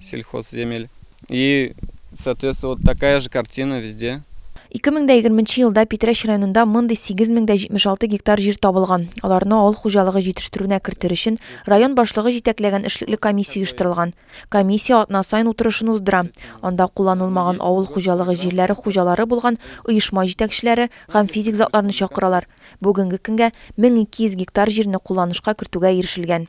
Сельхозземель. И, соответственно, вот такая же картина везде. 2020 нче елда Питрәч районында мондый 8076 гектар җир табылган. Аларны авыл хуҗалыгы җитештерүенә кертер өчен район башлыгы җитәкләгән эшлекле комиссия оештырылган. Комиссия атна саен утырышын уздыра. Анда кулланылмаган авыл хуҗалыгы җирләре хуҗалары булган оешма җитәкчеләре һәм физик затларны чакыралар. Бүгенге көнгә 1200 гектар җирне кулланышка кертүгә ирешелгән.